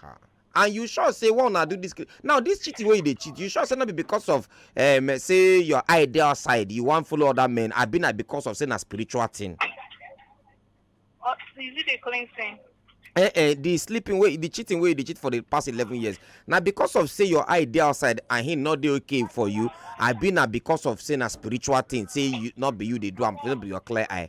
Ha. and you sure say why una do this ki- now this cheating wey you dey cheat you sure say no be because of um, say your eye dey outside you wan follow other men abi na because of say na spiritual thing Uh, is it a clean thing? eh eh the sleeping wey the cheating wey you dey cheat for the past eleven years na because of say your eye dey outside and him no dey okay for you abi na because of say na spiritual thing say you no be you dey do am no be your clear eye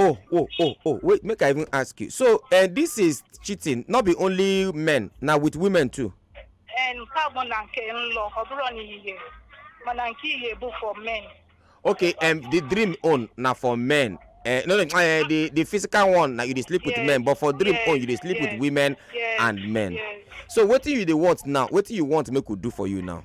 oh oh oh oh wait make i even ask you so uh, this is cheating not be only men na with women too. nke a bụ na nke nlọ ọ bụrụ na ihe mana nke ihe bụ for men. okay um, the dream own na for men uh, no no uh, the the physical one na you dey sleep yes. with men but for dream yes. own you dey sleep yes. with women yes. and men yes. so wetin you dey want now wetin you want make we do for you now.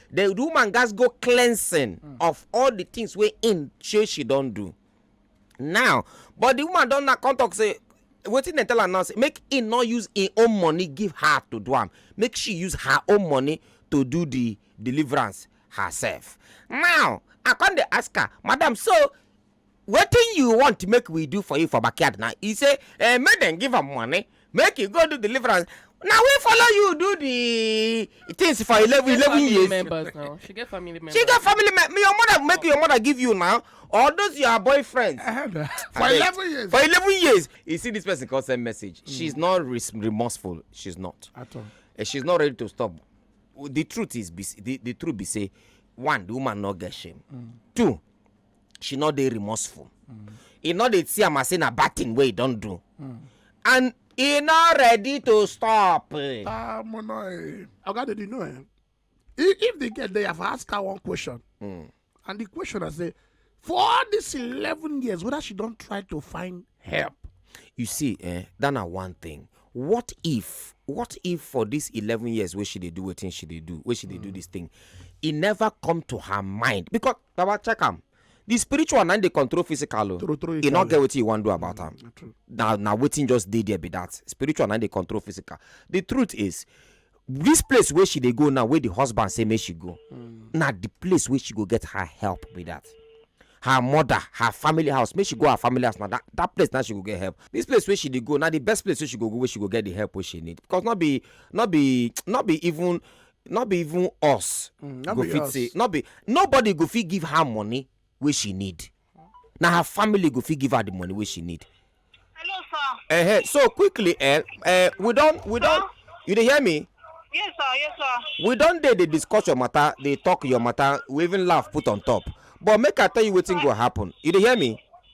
the woman gats go cleansing mm. of all the things wey im say she don do now but the woman don now come talk say wetin dem tell am now say make im no use im own money give her to do am make she use her own money to do the deliverance herself now i come dey ask her madam so wetin you want make we do for you for backyard now e say eh, make dem give am money make e go do deliverance na we follow you do the things for eleven eleven years members now she get family members she get family members your mother make your mother give you now or those your boyfriends for eleven years for eleven years you see this person come send message mm. she's not remorseful she's not at all eh, she's not ready to stop the truth is the, the truth be say one the woman no get shame mm. two she no dey remorseful e no dey see am as say na bad thing wey e don do and e no ready to stop. ah mo no eh oga dey know eh if the girl dey have ask her one question hmm. and the question i say for all these eleven years whether she don try to find help you see eh that na one thing what if what if for these eleven years wey she dey do wetin she dey do wey she dey do hmm. this thing e never come to her mind because baba check am the spiritual na dey control physical o e no get wetin you wan do about am mm, na na wetin just dey there be that spiritual na dey control physical the truth is this place wey she dey go now wey the husband say make she go mm. na the place wey she go get her help be that her mother her family house make she go her family house na that that place na she go get help this place wey she dey go na the best place wey she go go wey she go get the help wey she need because no be no be no be even no be even us Mm, no go be fit us. say no be nobody go fit give her money wey she need na her family go fit give her the money wey she need Hello, sir. uh-huh. so quickly eh, eh, we don we don you dey hear me Yes, sir. Yes, sir. we don dey dey discuss your matter dey talk your matter we even laugh put on top but make i tell you wetin go happen you dey hear me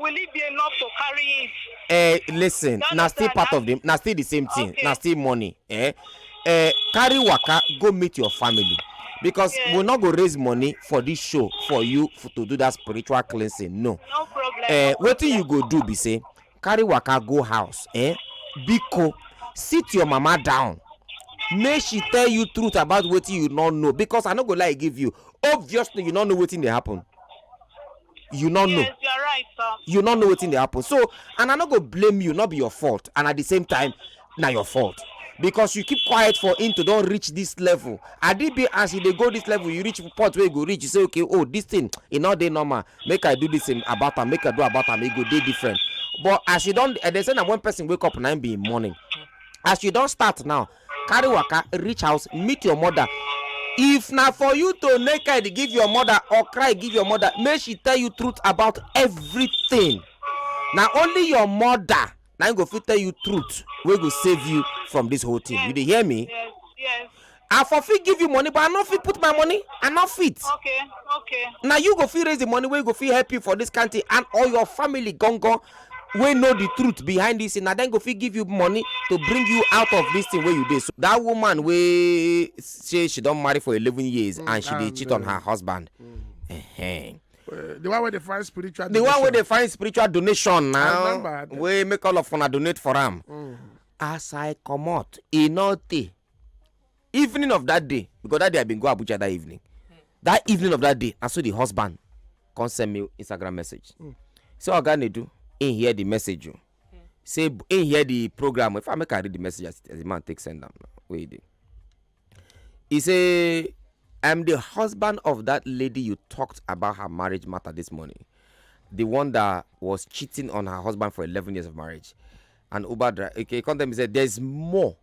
will it be enough to carry it. Eh, listen na still part of the na still the same thing okay. na still money eh? Eh, carry waka go meet your family because yes. we no go raise money for this show for you for, to do that spiritual cleansing no. no problem. Eh, no wetin you go do be say carry waka go house eh? biko sit your mama down make she tell you truth about wetin you no know because i no go lie give you obviously you no know wetin dey happen you no know yes you are right sir. you no know wetin dey happen so and i no go blame you no be your fault and at the same time na your fault because you keep quiet for him to don reach this level adibi as you dey go this level you reach point wey you go reach you say okay oh this thing e no dey normal make i do this um, about am make i do about am e go dey different but as you don eh, they say na when person wake up na him be him morning as you don start now carry waka reach house meet your mother if na for you to naked give your mother or cry give your mother make she tell you truth about everything na only your mother na im go fit tell you truth wey go save you from this whole thing you dey hear me Yes, yes. i for fit give you money but i no fit put my money i no fit Okay, okay. na you go fit raise the money wey go fit help you for this kind thing and or your family gangan wey know the truth behind this thing na dem go fit give you money to bring you out of this thing wey you dey so that woman wey say she don marry for eleven years mm, and she dey cheat on her husband mm. uh -huh. Uh, the one wey dey find spiritual the donation. one wey dey find spiritual donation now wey make all of una donate for am mm. as i comot e no tey evening of that day because that day i bin go abuja that evening that evening of that day na so the husband come send me instagram message mm. say oga nedu him hear the message o oh. mm. say him hear the program if i make i read the message as, as the man take send am wey he dey he say i'm the husband of that lady you talked about her marriage matter this morning the one that was cheating on her husband for eleven years of marriage and uber driver okay, he come tell me say there's more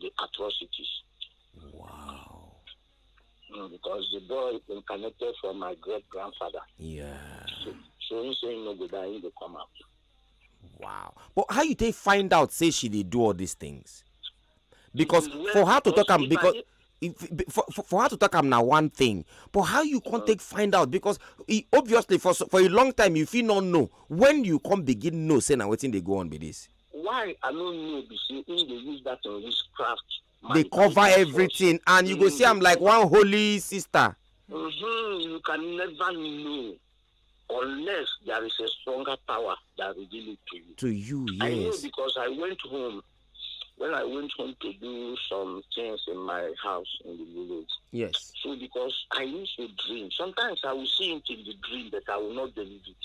the atrocities. Wow. Mm, because the boy incarnated from my great grandfather. Yeah. So, so he say no go die, he go come out. Wow. But how you take find out say she did do all these things? Because well, for her to talk am because if, for, for, for her to talk am na one thing but how you come mm. take find out because e obviously for for a long time you fit not know when you come begin know say na wetin dey go on be this. why i no know be say him dey use that thing use craft. dey cover everything and you go see am like one holy sister. Mm -hmm, you can never know unless there is a stronger power that reveal it to you. to you yes. i know because i went home when i went home to do some things in my house in the village. yes. so because i used to dream sometimes i will see it in the dream but i will not believe it.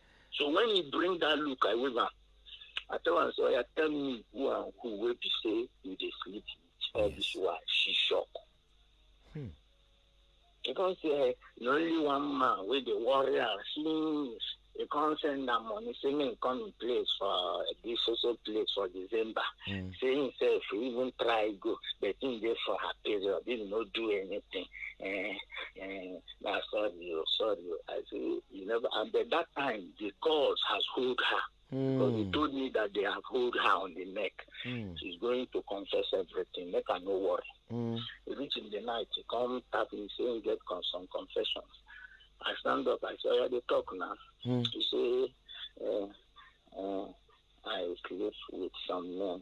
So when he bring that look, I wave am. I tell am say, oya tell me who and who wey be say you dey sleep with all this while. She shock. Hmm. He come say, eh, na only one man wey dey worry am since he come send am money say make he come im place for this so so place for December. Hmm. Say himself he even try go but him dey for her period, he no do anything. Eh, eh, na sorry o sorry o i say you never and then that time the cause has hold her because he Mm. told me that they have hold her on the neck Mm. she's going to confess everything make her no worry Mm. he reach in the night he come tap me say he get con- some confessions i stand up i say oya dey talk na Mm. he say uh, uh, i sleep with some men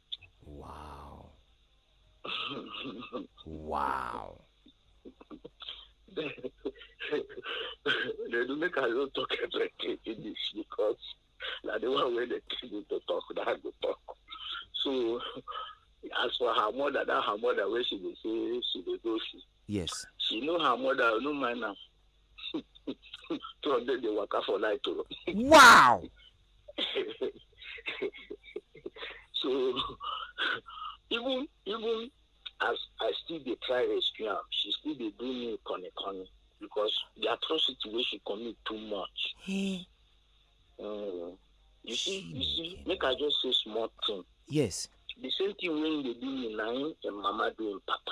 Wow. wow. they do make I don't talk everything finish because na the one wey dey tell me to talk na I go talk. So as for her mother, that her mother wey she dey say she dey go see, yes, she know her mother, no mind am. two hundred dey waka for night o. wow. so even even as i still dey try rescue am she still dey do me koni koni because the atrocity wey she commit too much. Hey. Eh. Mm. you see you see make i just say small thing. yes. the same thing wey dey do me na im im mama do im papa.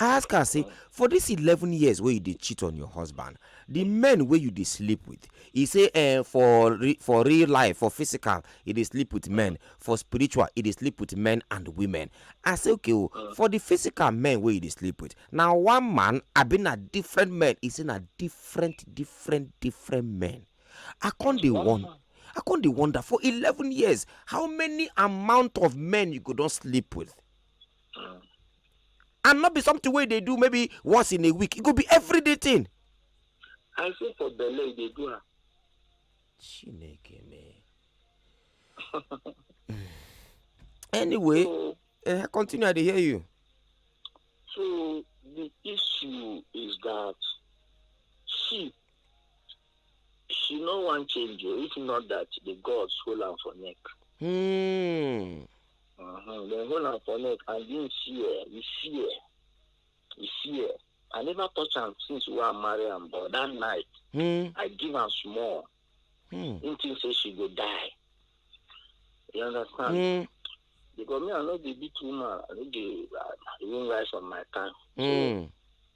I ask her say, for this 11 years wey you dey cheat on your husband, the men wey you dey sleep with, he say eh, for re- for real life, for physical, he dey sleep with men, for spiritual, he dey sleep with men and women. I say okay o, for the physical men wey you dey sleep with, na one man abi na different men? He say na different, different, different men. I come dey wonder. I come dey wonder for 11 years how many amount of men you go don sleep with? and not be something wey dey do maybe once in a week e go be everyday thing. i say for belle e dey do am. chineke me. anyway so, uh, continue i dey hear you. so the issue is that she She no wan change o, if not that the gods hold am for neck. Hmm. Uh-huh. Dem hold am for neck and him fear, he fear, he fear. I never touch am since we are married am but that night hmm. I give am small. Hmm. Him think say she go die. You understand? Hmm. Because me I no dey beat woman, I no dey I even rise on my time. Hmm. So,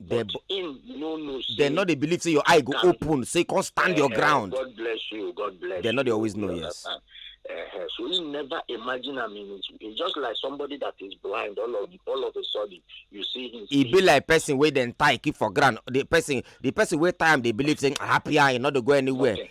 They, but him no know say. They no dey believe say your eye go open say come stand uh, your eh, ground. God bless you, God bless they you. They no dey always know, yes. Understand? Uh, so we never imagine I mean it's, it's just like somebody that is blind all of all of a sudden you see him. He be like person wey dem tie keep for ground the person the person wey tie am dey believe say happy eye no dey go anywhere. Okay.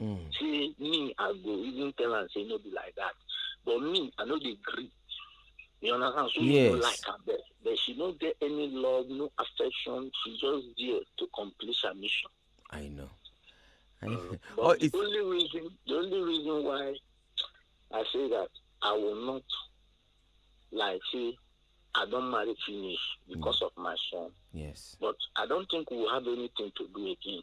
Mm. Say me, I go even tell am say no be like that. But me, I no dey gree. You understand? So yes. you no like am there. But she no get any love, no affection. She just there to complete her mission. I know. I know. Uh, but oh, the it's... only reason the only reason why I say that I will not like say I don't marry finish because mm. of my son. Yes. But I don't think we'll have anything to do again.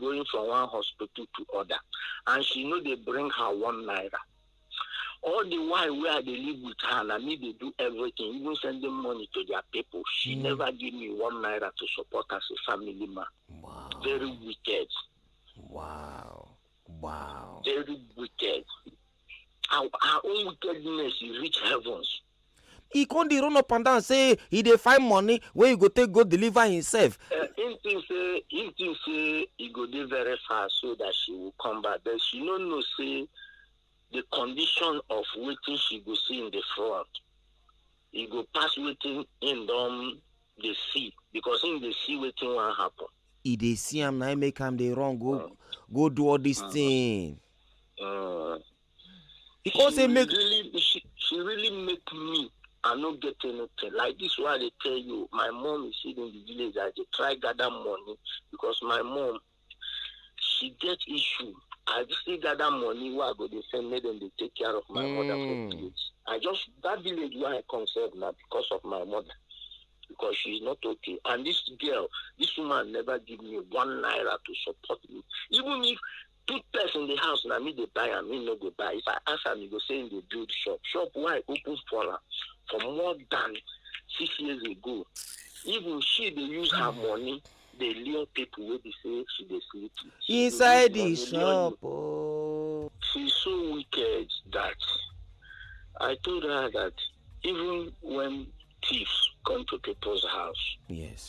going from one hospital to other and she no dey bring her one naira all the while wey i dey live with her na me dey do everything even sending money to their people she mm. never give me one naira to support as a family man wow. very wicked wow wow very wicked her her own wickedness e reach heavens. e con dey run up and down say e dey find money wey e go take go deliver himself. Uh, him think say him think say e go dey very far so that she will come back but she no know say the condition of wetin she go see in the front e go pass wetin him don dey see because him dey see wetin wan happen. e dey see am na make am dey run go go do all this thing. Mm. He come say make really, she, she really make me I no get anything. Like this why they tell you, my mom is sitting in the village. I dey try gather money because my mom she get issue. I still gather money where I go dey send make them dey take care of my mother for Mm. village. I just that village where I come serve now because of my mother. Because she's not okay. And this girl, this woman never give me one naira to support me. Even if put purse in the house na me dey buy am he no go buy if i ask am he go say he dey build shop shop wey i open for am for more than six years ago even she dey use her money dey lure people wey be say she dey sleep with She dey use inside the money lure you. shop oh. she's so wicked that I told her that even when thieves come to people's house, yes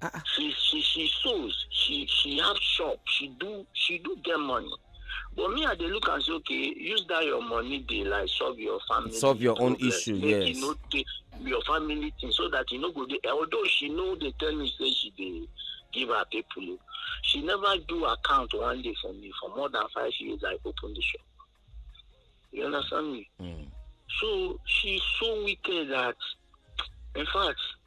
Ah, ah. she she she sews she she have shop she do she do get money but me i dey look am say okay use that your money dey like solve your family solve your problem. own issue Make yes you no take your family thing so that you no go dey although she no dey tell me say she dey give her people o she never do account one day for me for more than five years i open the shop you understand me mm. so she so wicked that in fact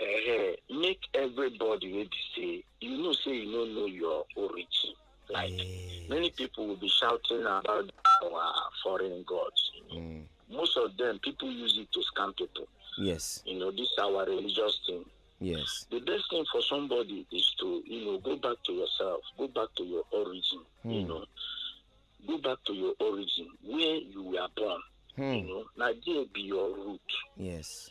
eh, make everybody wey be say you know say you no know your origin like yes. many people will be shouting about our foreign gods you know? mm. most of them people use it to scam people yes you know this our religious thing yes the best thing for somebody is to you know go back to yourself go back to your origin mm. you hmm. know go back to your origin where you were born mm. you hmm. know now there be your root yes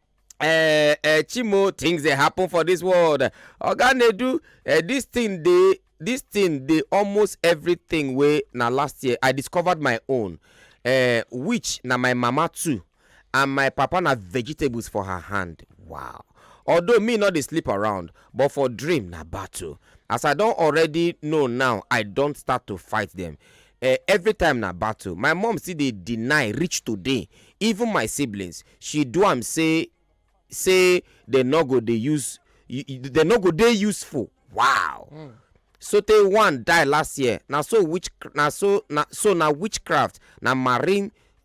eh, eh, chimo things dey happen for this world oga nedu eh, this thing dey this thing dey almost everything wey na last year i discovered my own eh, which na my mama too and my papa na vegetables for her hand wow although me no dey sleep around but for dream na battle as i don already know now i don start to fight them eh, every time na battle my mom still dey deny reach today even my siblings she do am say say dem no go dey use y- y- dem no go dey useful wow sotey one die last year na so witch na so na so na witchcraft na marine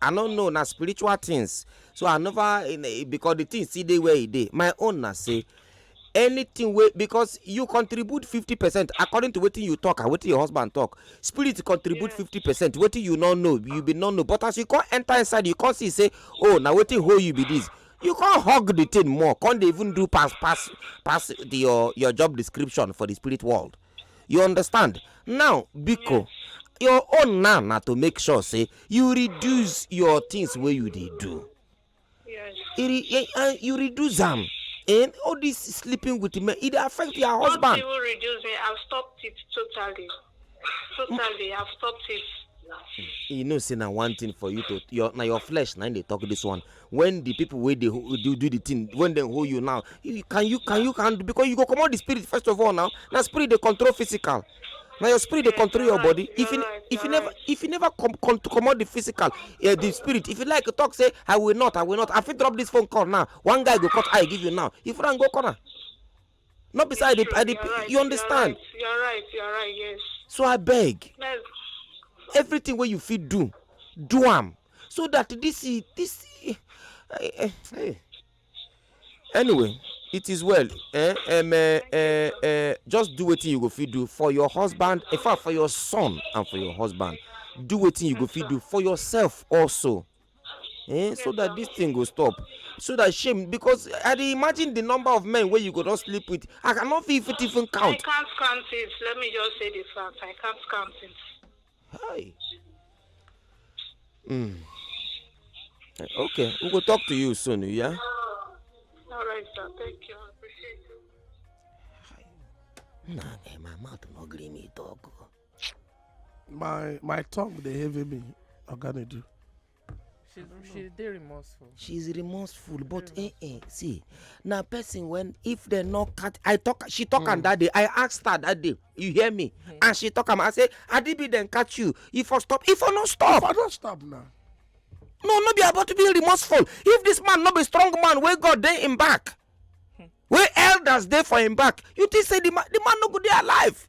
i no know na spiritual things so i never eh, because the thing still dey where e dey my own na say anything wey because you contribute fifty percent according to wetin you talk and wetin your husband talk spirit contribute fifty percent wetin you no know you be no know but as you come enter inside you come see say oh na wetin hold you be this you come hug the thing more come dey even do pass pass pass the, your your job description for the spirit world you understand now biko your own now na to make sure say you reduce your things wey you dey do Yes. e re- eh, eh, you reduce am and all this sleeping with men e dey affect your Don't husband even reduce me. I've stopped it totally. Totally, I've stopped it. you know say na one thing for you to your na your flesh na im dey talk this one when the people wey dey do do the thing when dem hold you now you can you can you can because you go comot the spirit first of all now na spirit dey control physical na your spirit dey control your body if you if you never if you never com com comot the physical uh, the spirit if you like talk say i will not i will not i fit drop this phone call now one guy go cut eye give you now if you run go corner. no be say i dey i dey you understand you are right you are right yes so i beg everything wey you fit do do am so that this this eh, eh, eh. anyway it is well eh, um, eh, eh, eh, just do wetin you go fit do for your husband in fact for your son and for your husband do wetin you go fit do for yourself also eh so that this thing go stop so that shame because i dey imagine the number of men wey you go don sleep with i cannot fit fit even count. i can't count it let me just say the fact i can't count it. hi. Mm. okay we go talk to you soon yeah. all right sir thank you i appreciate you. na eh, my mouth no gree me talk. Oh. my my tongue dey heavy me oga dey do. she she dey remorseful. she is remorseful but eh eh see na person when if dem no cut i talk she talk mm. am hmm. that day i ask her that day you hear me mm. and she talk am i say adibi dem catch you you for stop if for no stop. if for no stop na. no no be about to be remorseful if this man no be strong man wey god dey im back hmm. wey elders dey for im back you think say the man the man no go dey alive.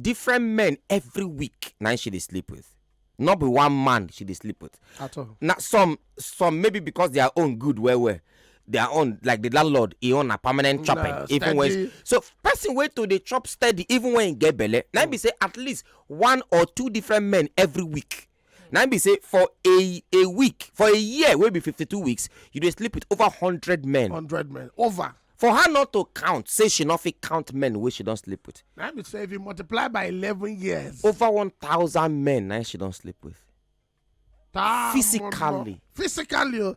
different men every week na she dey sleep with not be one man she dey sleep with at all na some some maybe because their own good well well their own like the landlord e own na permanent chopping nah, even when so person wey to dey chop steady even when e get belle na be say at least one or two different men every week na be say for a a week for a year wey be fifty two weeks you dey sleep with over hundred men hundred men over for her not to count say she no fit count men wey she don sleep with na be say if you multiply by eleven years over one thousand men na she don sleep with ta- physically physically o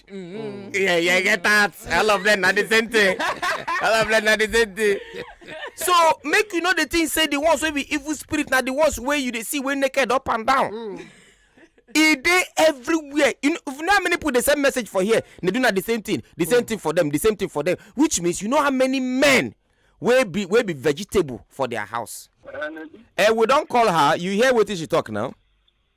Mm. Yeah, yeah, I get that. I love them. Not the same thing. I love them. Not the same thing. So make you know the thing. Say the ones wey be evil spirit na the ones wey you dey see wey naked up and down. Mm. E dey everywhere. You know, you know how many people dey send message for here? They do na the same thing. The same mm. thing for them. The same thing for them. Which means you know how many men wey be wey be vegetable for their house. Uh, we don call her. You hear wetin she talk now?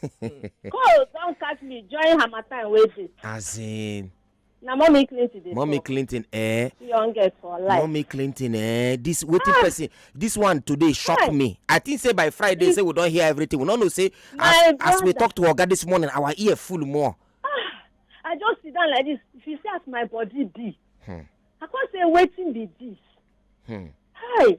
cold don catch me join harmattan wey dey. as in. na mommy clinton dey mommy talk. clinton eh. youngest for life. mommy clinton eh this wetin ah. person this one today shock Why? me i think say by friday if, say we don hear everything we no know say as, as we talk to oga this morning our ear full more. Ah, i just sit down like this if you see as my body be. Hmm. i come say wetin be this. Hmm. hi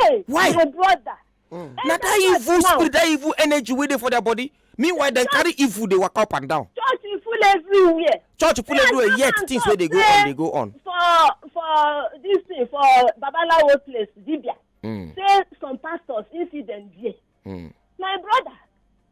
Hey, Why? my brother. Mm. na that evil spirit that evil energy wey dey for their body meanwhile dem carry evil dey waka up and down. church full everywhere. church full everywhere yet things wey dey go on dey go on. for for this thing for babalawo place dibia. Mm. say some pastors incident there. Mm. my brother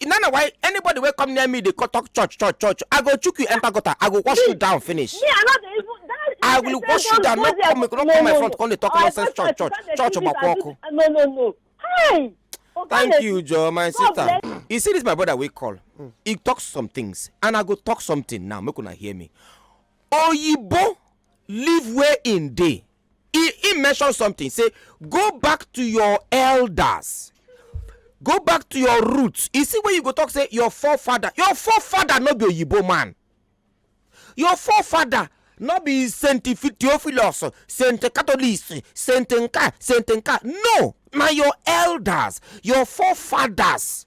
e na na why anybody wey come near me dey co- talk church church church i go chook you enter gutter i go wash you down finish Me, I no dey even. That I will person wash you don down, go no there. come- no come my front, come dey talk I go nonsense, church, church, come dey church, do this, Obakwa I do Oku. this. No, no, no. Hi. Oga thank Leti, you joe my God sister bless you see this my brother wey call he talk some things and i go talk something now make una hear me oyibo leave where im dey he he mention something say go back to your elders go back to your roots you see when you go talk say your forefather your forefather no be oyibo man your forefather no be saint theophilus saint catholic saint nka saint nka no na your elders your forefathers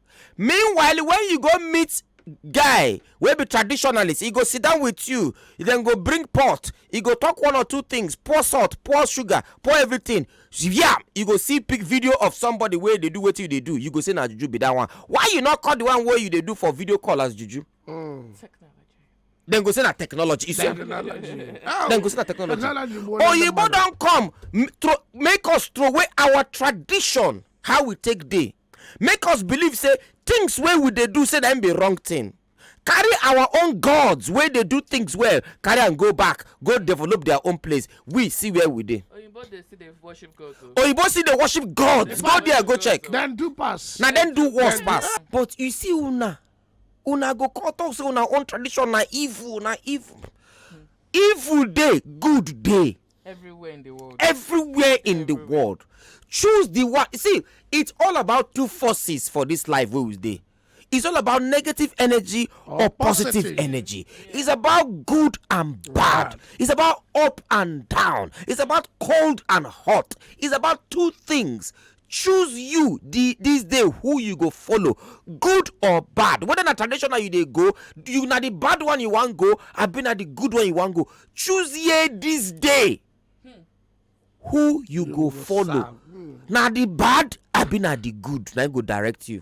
meanwhile when you go meet guy wey be traditionalist e go sit down with you dem go bring pot e go talk one or two things pour salt pour sugar pour everything yam you go see pic video of somebody wey dey do wetin you dey do you go say na juju be that one why you no call the one wey you dey do for video call as juju dem go say na technology you see am dem go say na technology oyibo don come m- throw- make us throw away our tradition how we take dey make us believe say things wey we dey do say na im be wrong thing carry our own gods wey dey do things well carry am go back go develop their own place we see where we dey oyinbo dey still dey worship god o. oyibo still dey worship gods go there go check Then do pass. na dem do worse pass but you see una una go come talk say una own tradition na evil na evil evil dey good dey everywhere in the world everywhere in the world choose the one see it's all about two forces for this life wey we dey it's all about negative energy or, or positive, positive, energy yeah. it's about good and bad. bad it's about up and down it's about cold and hot it's about two things choose you the this day who you go follow good or bad whether na traditional you dey go you na the bad one you wan go abi na the good one you wan go choose ye this day hmm. who you go follow hmm. na the bad abi na the good na go direct you.